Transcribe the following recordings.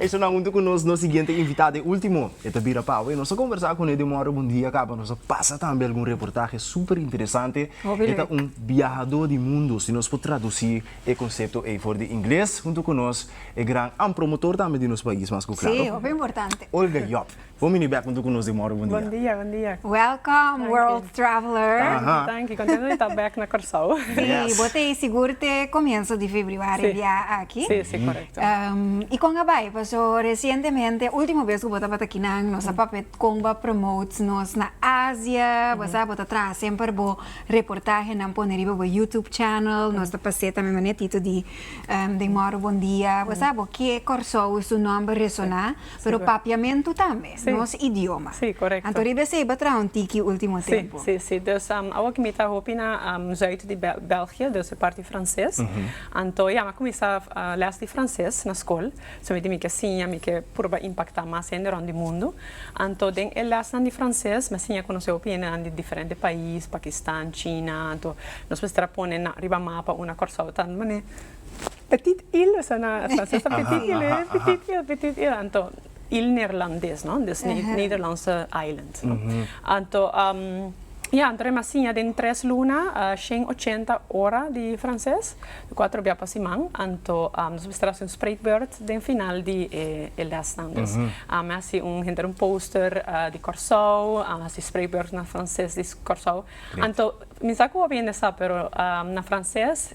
Esnan huntu ku nos, nos siguiente invitado e ultimo, e ta bira pawe. Nos a kombersá ku ne den mòrò bon dia kaba. Nos a pasa tambe algun reportahe super interesante. Hopi lek. E ta un biahadó di mundu, si nos por tradusí e konsepto ei for di ingles. Huntu ku nos e gran, an promotor tambe di nos pais, mas ku klaro. Sí, hopi importante. Olga Yòp. Bo mini bek untu ku nos den morro. Bon dia. Welcome world traveler. Tanki contento di ta bek na Corsou. Si, bo ta e sigur te comienzo di febriuari e bia aki. Si, si, correcto. Y con a bay? Paso recientemente, ultimo bes cu bo tabata akinan, nos a papia con bo a promote nos na Asia, bo sa, bo ta traha semper bo reportahenan pone riba bo YouTube channel, nos ta pase tambe mane e tito di den morro Bon dia, bo sa, bo ke Corsou y su nomber resona. Pero papiamentu tambe nos idioma. Anto riba esei bo a traha un tiki ultimo tempu. Si, si, si. Dus awo aki mi ta hopi na zuid di België, dus e parti franses. Anto ya, mi a kuminsá lès di franses na skol. So mi di mi ke siña, mi ke purba impaktá mas hende rònt di mundu. Anto den e lèsnan di franses mi a siña konosé hopi hendenan di diferente pais, Pakistan, China. Anto nos mester a pone na riba mapa una Kòrsou ta manera. Petit île sa na sa sa petit île petit île petit île anto île neerlandes no dus nederlandse island no anto ya anto remba siña den tres luna shen ochenta ora di franses cuatro bia pa siman anto nos mester hasi un spreekbeurt den final di e lesnan dus mi a hasi un henter un poster di Kòrsou a hasi spreekbeurt na franses di Kòrsou anto mi sa ku hopi hende sa pero na franses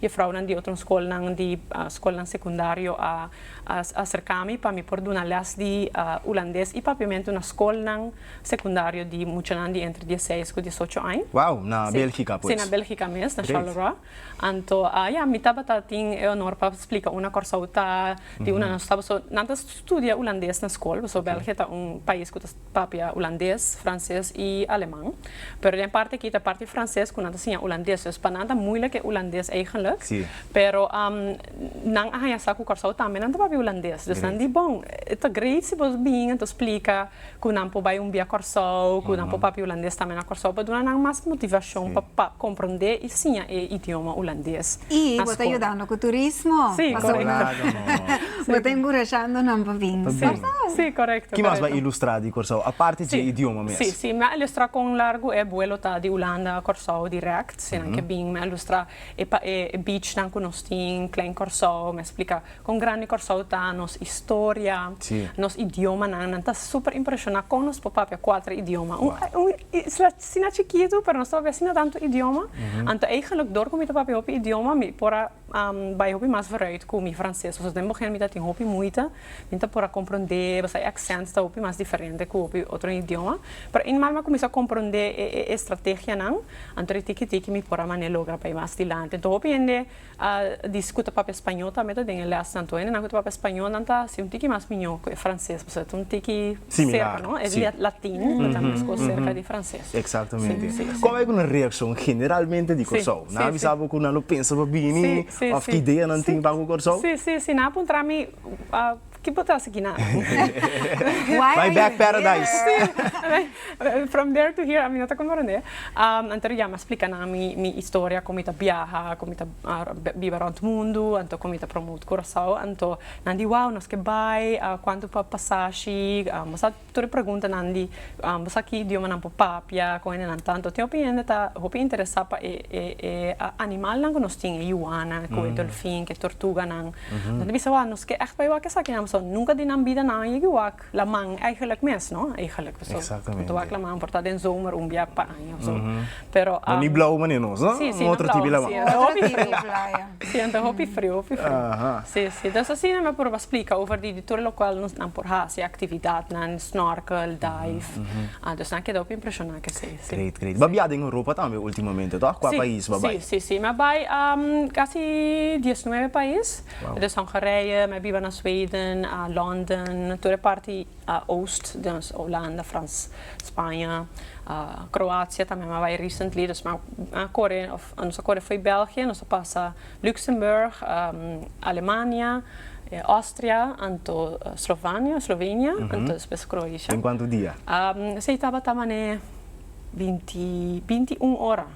Jefrounan di otro skolnan di skolnan sekundario a aserká mi pa mi por duna lès di ulandes i papiamentu na skolnan sekundario di muchanan di entre dieseis ku diesocho añ. Wou, na Bèlgika pues? Sí, na Bèlgika mes, na Charleroi. Anto ya, mi tabata tin e onor pa splika una Kòrsou ta tin una nan tabata nan ta studia ulandes na skol, pasobra Bèlgika ta un pais ku ta. papia hulandes, frances y aleman. Pero den parti aki ta parti frances cu nan ta siña hulandes. Entonces pa nan ta moeilijk e hulandes eigenlijk. Sí. Pero nan a haña sa cu Curaçao tambe nan ta papia hulandes. Dus nan di bon, ta great si boso bin en ta splica cu nan por bay un bia Curaçao, cu nan por papia hulandes tambe na Curaçao pa duna nan mas motivacion pa comprende. siña e idioma hulandes. I bo ta yudando ku turismo. Si, korekto. Bo ta enkurashando nan pa bin Kòrsou. Si, korekto. Ki mas bo a ilustrá di Kòrsou aparte dje idioma mes? Si, si. Mi a ilustrá kon largu e buelo ta di Hulanda a Kòrsou dirèkt. Si nan ke bin mi a ilustrá e bichnan ku nos tin, Klein Kòrsou, mi a splika. Kon grandi Kòrsou ta, nos historia, nos idiomanan, nan ta super impreshoná kon nos por papia kuater idioma. Un isla asina chikitu pero nos ta papia asina tantu idioma, anto eigenlijk dor ku mi ta papia hopi idioma mi por a bai hopi mas vooruit ku mi franses. Pasobra den bohèn mi ta tin hopi muita, mi ta por a komprondé pasobra e aksènt ta hopi mas diferente ku hopi otro idioma. Pero eenmaal mi a kuminsá komprondé e estrategianan, anto di tiki tiki mi por a manera logra bai mas dilanti. Anto hopi hende. A disi ku ta papia spañol tambe ta den e lès nan. Toene nan ku ta papia spañol nan ta hasi un tiki mas miñó ku e franses pasobra ta un tiki serka, no? E latin ta tambe mescó serka di franses. Eksatamente. Kon bai ku nan reakshon generalmente di Kòrsou? Nan a bisa bo ku nan lo pensa pa bini òf ki idea nan tin pa ku Kòrsou? Si, si, si. Nan a puntra mi. Ki bo ta hasi kina? Fly back paradise. From there to here, mi no ta komprende. Anto a yama splika nan mi historia kon mi ta biaha, kon mi ta biba rònt mundu, anto kon mi ta promote Curaçao. Anto nan di wou, nos ke bai, kuantu pa pasashi, bo sa Tur e preguntanan di Boso ki idiomanan por papia ku hendenan tantu? Tin hopi hende ta hopi interesá pa e e animalnan ku nos tin, e yuana, ku e dolfin, ku e tortuganan. Nan ta bisa, Wak, nos ke ègt bai wak esaki nan? Pasobra nunka di nan bida nan a yegi wak laman, èigelik mes, no? Èigelik. Pasobra wak laman por ta den zomer un bia pa aña. Pero am. No ni blau mane nos, no? Sí, sí, no blau. Un otro tipi laman. Otro tipi playa. Sí, anto hopi frio, hopi frio. Aha. Sí, sí. Dus asina mi a proba splika over di tur lokual nos nan por hasi aktividatnan, snorkel, dive. A dus nan keda hopi impreshoná ke esei, sí. Great, great. Bo a biaha den Europa tambe ultimamente, toh? Kua pais bo a bai? Sí, sí, sí. Mi a bai kasi diesnuebe pais. Wou. Mi a bai Hongarije, mi a biba na Sweden, London, tur e parti. a Oost, dus Holanda, Frans, Spaña, Kroatia tambe mi a bai recently dus mi a a kore òf nos a kore fo'i België nos a pasa Luxemburg, Alemania, Austria anto Slovania, Slovenia anto despues Kroatia. Den kuantu dia? Esei tabata manera binti binti un ora.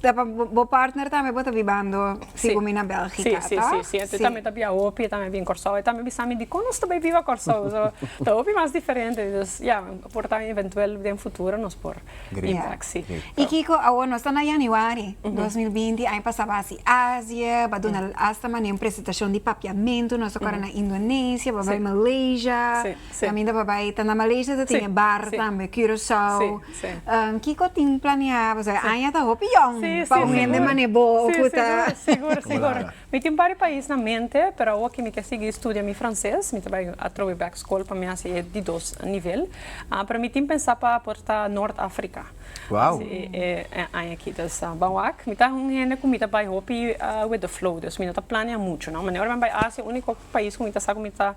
Ta pa bo partner tambe bo ta bibando sigu mi na belgica si si si si e tambe ta bia hopi e tambe a bin corsou e tambe a bisami dicon nos ta bai biba corsou so ta hopi mas diferente dus ya por ta eventuel den futuro nos por bin bek si y kico awo nos ta na januari dos mil binti aña pasa ba si asia ba duna asta manera un presentacion di papiamento nos ta kore na indonesia ba bai malaysia. Caminda pa bay ta na Malaysia ta tin e bar tambe Curaçao kico tin planea pasobra e aña ta hopi young pa un hende manera bo cu ta. Sigur sigur mi tin bari pais na mente pero awo aki mi ke sigui studia mi frances mi ta bay atrobe back school pa mi haci e di dos nivel pero mi tin pensa pa por ta Noord Africa haci e aña aki dus ba wak mi ta un hende cu mi ta bay hopi with the flow dus mi no ta planea mucho no manera ora mi a bay Asia unico pais cu mi ta sa cu mi ta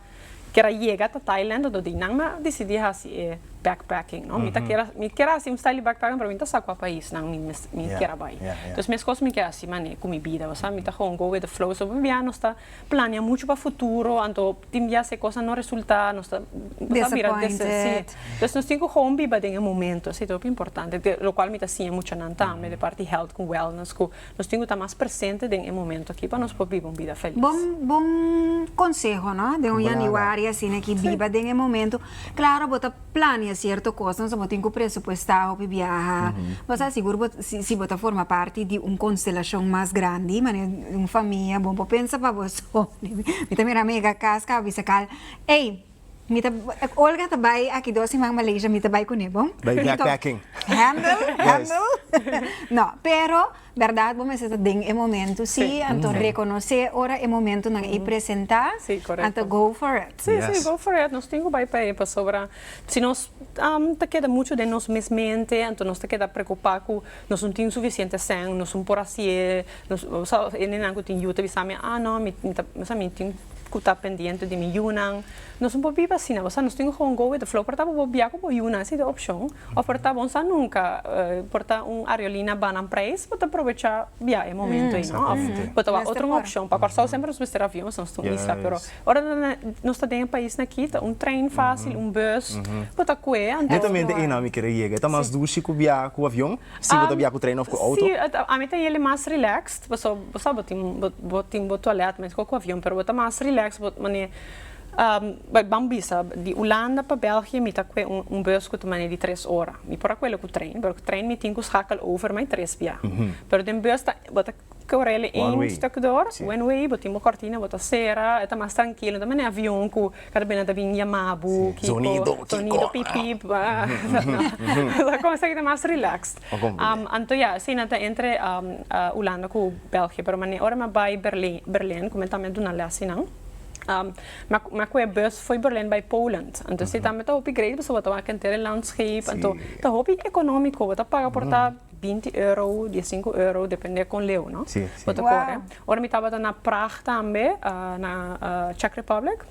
kier a yega ta Thailand unda di nan a disidí hasi e backpacking, no. Mi ta kier, mi kier a hasi un style di backpacking pero mi no ta sa kua paisnan mi mi kier a bai. Entonces meskos mi ke hasi manera ku mi bida, bo sa. Mi ta gewoon go with the flow. So por bia nos ta planea muchu pa futuro anto tin bia si e kos no resulta nos ta nos ta bira des. Sí. Entonces nos tin ku gewoon biba den e momento, esei ta hopi importante. Lokual mi ta siña muchanan tambe de parti health ku wellness ku. Nos tin cu ta mas presente den e momento aki pa nos por biba un bida feliz. Bon conseho no, den un Januari asina aki biba den e momento. Claro bo ta planea cierto cos entonces bo tin cu presupuesta hopi biaha, bo sa sigur bo si bo ta forma parti di un constelacion mas grandi manera un famia bo por pensa pa boso mi ta mira mega cas ca bo bisa cal ey. Mi ta Olga ta bai aki dos siman Malaysia mi ta bai kune bo. Bai backpacking. Handle, handle. Yes. no, pero berdad bo mester ta den e momento si, sí. anto mm. reconoce ora e momento nan mm. i presenta, sí, anto go for it. Sí, yes. sí, go for it. Nos tin go bai pa e pasobra si nos um, ta keda mucho den nos mes mente, anto nos ta keda preocupa cu Nos no tin sufisiente sèn, nos no por hasié, nos, bo sa, e nennan ku tin yu ta bisa mi, ah, no, mi, mi ta, bo sa, mi tin ku ta pendiente di mi yunan. Nos no por biba asina, bo sa, nos tin ku gewoon go with the flow, por ta bo bo bia ku bo yunan, esa i ta e opshon, òf por ta bon sa nunka, por ta un ariolina ba nan prijs, bo ta probechá bia e momentu ei, no? Òf bo ta wak otro un opshon. Pa Kòrsou semper nos mester avion, nos ta un isla, pero. Ora nan nos ta den e pais na kita un trein facil un bus bo ta cue antes no Netamente hay. einan mi quiere yega. E ta mas dushi cu bia cu avion si bo ta bia cu trein of cu auto? Si, ami ta yele mas relaxed pasobra bo sabi bo tin bo tin bo toilet mescua cu avion pero bo ta mas relaxed bo mane bai bam bisa di Hulanda pa België mi ta cue un bus cu ta mane di tres ora mi por a cuelo cu trein pero cu trein mi tin cu schakel over mai tres bia pero den bus ta bo ta Corel e een stuk door. One way, bo tin bo cortina, bo ta cera, e ta mas trankilo. No ta manera avion cu cada bes nan ta bin yama bo, kiko, sonido, pip, pip, esaki cos aki ta mas relax. Anto ya, así nan ta entre Hulanda cu België. Pero mane ora mi a bay Berlin, Berlin, cu mi tambe a duna les ey nan, mi a cu e bus fo'i Berlin bay Poland. Anto esey tambe ta hopi great, pasobra bo ta wak henter e landscape. Anto ta hopi economico, bo ta paga por ta. binti euro, dia e sinku euro, depende kon leu, no? Sí, sí. Bo ta kore. Wow. Ora mi tabata na Praag tambe, na Czech Republic,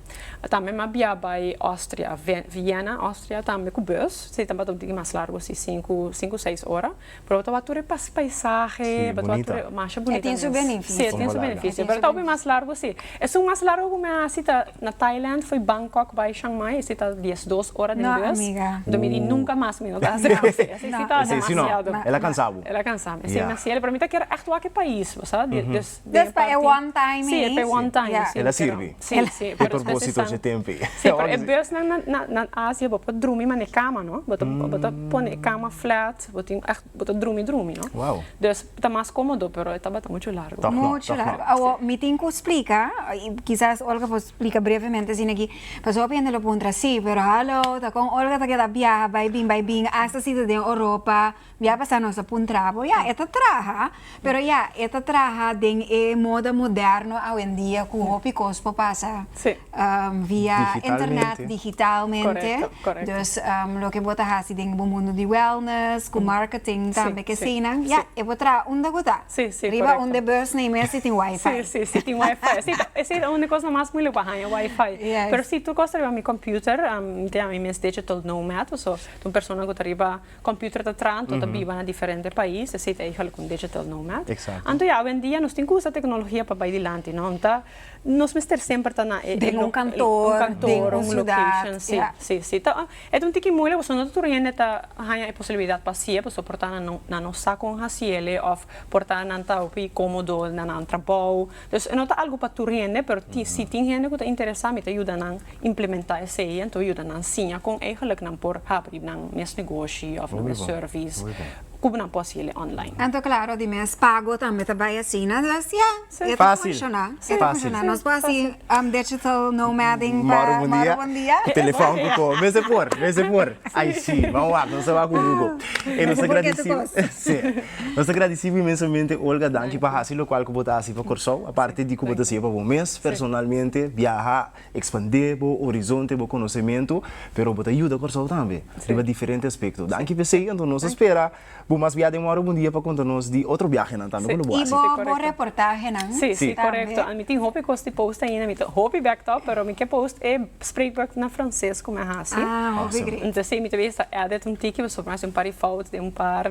tambe mi a bia bai Austria, Vienna, Austria tambe ku bus, si tabata un tiki mas largu si, sinku, sinku seis ora, pero bo ta wak tur e paisahe, bo ta wak tur e. Sí, bunita. Masha bunita mes. E tin su beneficio. Sí, e tin su beneficio, pero ta hopi mas largu si. Esun mas largo cu mi a haci ta na Thailand fo'i Bangkok bay Chiang Mai, esey ta dies dos ora den bus, do mi di nunca mas mi no ta haci asey, esey si ta demasiado. El a cansa bo. El a cansa mi, esey demasiado, pero mi ta kier echt wak e pais, bo sa, dus den parti. P'e one time ey. Si, p'e one time, si. El a sirbi. Si, si. P'e propósito dje tempi. Si, pero e busnan na Asia bo por drumi man'e cama, no, bo ta pone e cama flat, bo tin. Bo ta drumi drumi no. Wow. Dus ta mas komodo pero e tabata muchu largu. Tòg no, Muchu tòg no. largu. Awo, mi tin ku splika, i kisas Olga por splika brevemente asina aki, pasobra hopi hende lo puntra, sí, pero halo, ta kon Olga ta keda biaha bai bin bai bin, asta si ta den Oropa, biaha pasá nos a puntra bo, ya, e ta traha. Pero ya, e ta traha den e moda moderno awendia ku hopi kos por pasa via internet, digitalmente. Dus loke bo ta hasi den bo mundu di wellness, ku marketing tambe ke asina, ya, e por traha unda bo ta. Riba un de bus na e mes si tin wifi. Sí, si tin wifi. Esei ta un di kos mas mulik pa haña, wifi. Pero si tur kos ta riba mi computer, mi tin ami mes dechi tolnow mèt, pasobra tin un persona ku ta riba. Computer ta traha anto ta biba na diferente pais, esei ta ejo algun digital nomad. Anto ya awendia nos tin cu usa tecnologia pa bay dilanti, no? Nta nos mester semper ta na e den un kantoor, den un ciudad. Si, si, si. Ta e ta un tiki moeilijk pasobra no ta tur hende ta haña e posibilidad pa haci'e pasobra por ta nan no sa con haci'e of por ta nan ta hopi comodo na nan trabao. Entonces e no ta algu pa tur hende, pero tin, si tin hende cu ta interesa mi ta yuda nan implementa esey, ento yuda nan siña con eigenlijk nan por habri nan mes negoshi of nan mes service cu nan por haci ele online. Ento claro di mes pago tambe ta bay asina, entonces ya, e ta funciona, e ta funciona, nos por haci digital nomading pa moro bon dia. Telefon cu coge, mes e por, mes e por, ay si, bo a wak, nos a wak cu Google. E nos a gradeci, si. Nos ta gradisibu inmensamente Olga danki pa hasi lokual ku bo ta hasi pa Kòrsou aparte di ku bo ta siña pa bo mes personalmente biaha ekspandé bo orizonte bo konosementu pero bo ta yuda Kòrsou tambe riba diferente aspekto danki p'e sey anto nos ta spera bo mas biaha den Mòrop un dia pa konta nos di otro biahenan tambe ku lo bo hasi. I bo reportahenan tambe. Ami tin hopi kos di post ainda mi ta hopi bek tòg pero mi ke post e spreekwoord na franses ku mi a hasi entonces mi ta bisa edit un tiki pasobra mi a hasi un par di fout den un par.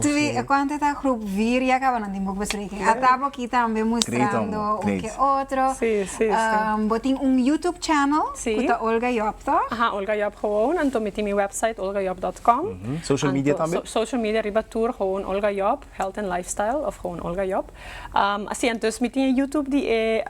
Tri e cuanto ta groep vier ya caba nan tin book bespreken a ta bo aki tambe mustrando un que otro bo tin un youtube channel cu ta Olga Job to? Aha Olga Job gewoon anto mi tin mi website olgajob.com social media tambe? Social media riba tur gewoon Olga Job health and lifestyle of gewoon Olga Job asi entonces mi tin e youtube di e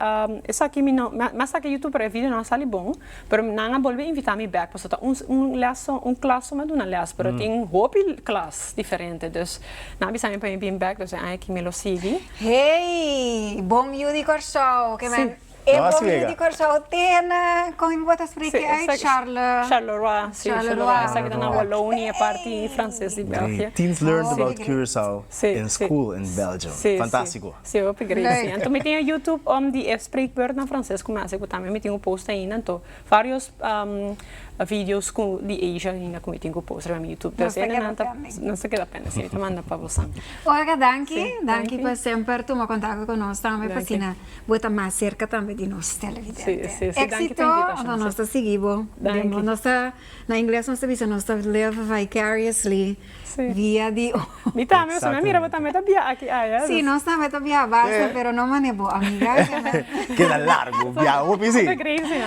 esaki mi no mi a sa ke youtube pero e videonan a sali bon. Pero nan a bolbe invita mi bek paso ta un un leso un klas lo mi a duna les pero tin hopi klas diferente dus nan a bisa mi pa mi bin bek dus e aña aki mi lo sigui. Hey! Bon yu di Kòrsou ke men e bon yu di Kòrsou tene kon e bo ta spreke uit Charle Charleroi si Charleroi esaki ta na Wallonie e parti franses di Belgie. Great things learned about Curaçao in school in Belgium. Fantastiko. Sí, hopi gracia. Anto mi tin e YouTube om di e spreekbeurt na Frances cu mi haci cu tambe mi tin cu post ainda. Anto varios videos cu di Asia ainda cu mi tin cu post riba mi YouTube. Nos ta keda pende. Nos ta keda pende, sí. Mi ta manda pa bosan. Olga, danki. Danki pa semper tuma contacto cu nos tambe pasina bo ta mas cerca tambe di nos televidente. Sí, sí. Danki pa invitacion. Exito. Nos ta sigui bo. Danki. Nos ta, na ingles nos ta bisa nos ta live vicariously. Dia di oca. Mi tambe so me mira bo tambe ta biaha aki aya. Si nos tambe ta biaha basta pero no mane bo amiga esa na. Keda largo biaha hopi si.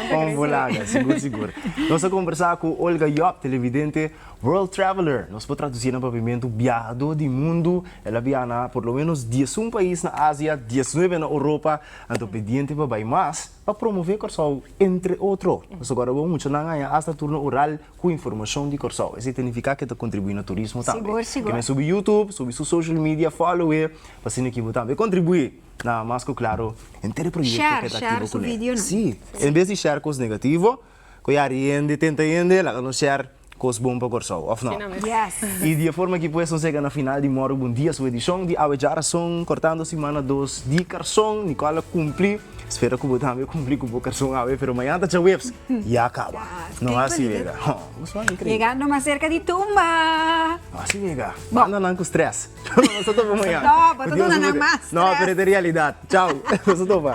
Con bulaga sigur sigur. Nos a combersa cu Olga Job televidente world traveler nos por traduci na papiamento biahado di mundo el a biaha na por lo menos diesun pais na Asia diesnuebe na Europa anto pediente pa bay mas pa promove Corsou entre otro nos a guarda bon muchanan aya hasta tur na Ural Cu informacion di Corsou. Esey ta nifica que ta contribui na turismo tambe. Sigur, sigur. Keme subi YouTube, subi su social media, follow e, pa asina aquí bo tambe contribui na mas cu claro henter e proyecto Share, que ta share activo su cu ne. videonan. Si, en bes di share cos negativo, cu ya di hende, tenta hende, laga nos share cos bon pa Corsou, of no? Asina mes. Yes. Y di e forma aki pues nos yega na final di Morro Bon Dia su edicion di Awe Djarason, cortando simana dos di carson, Nicole a cumpli. Spera ku bo tambe kumpli ku bo kerson awe, pero mañana ta jueves, ya kaba. No hasi wega. Ho, bo suan inkreíble. Yegando mas serka di tumba. No hasi wega. Banda nan ku strès. Pero nos ta topa mañana. No, bo ta duna nan mas strès. No, pero e ta e realidat. Chau. Nos ta topa.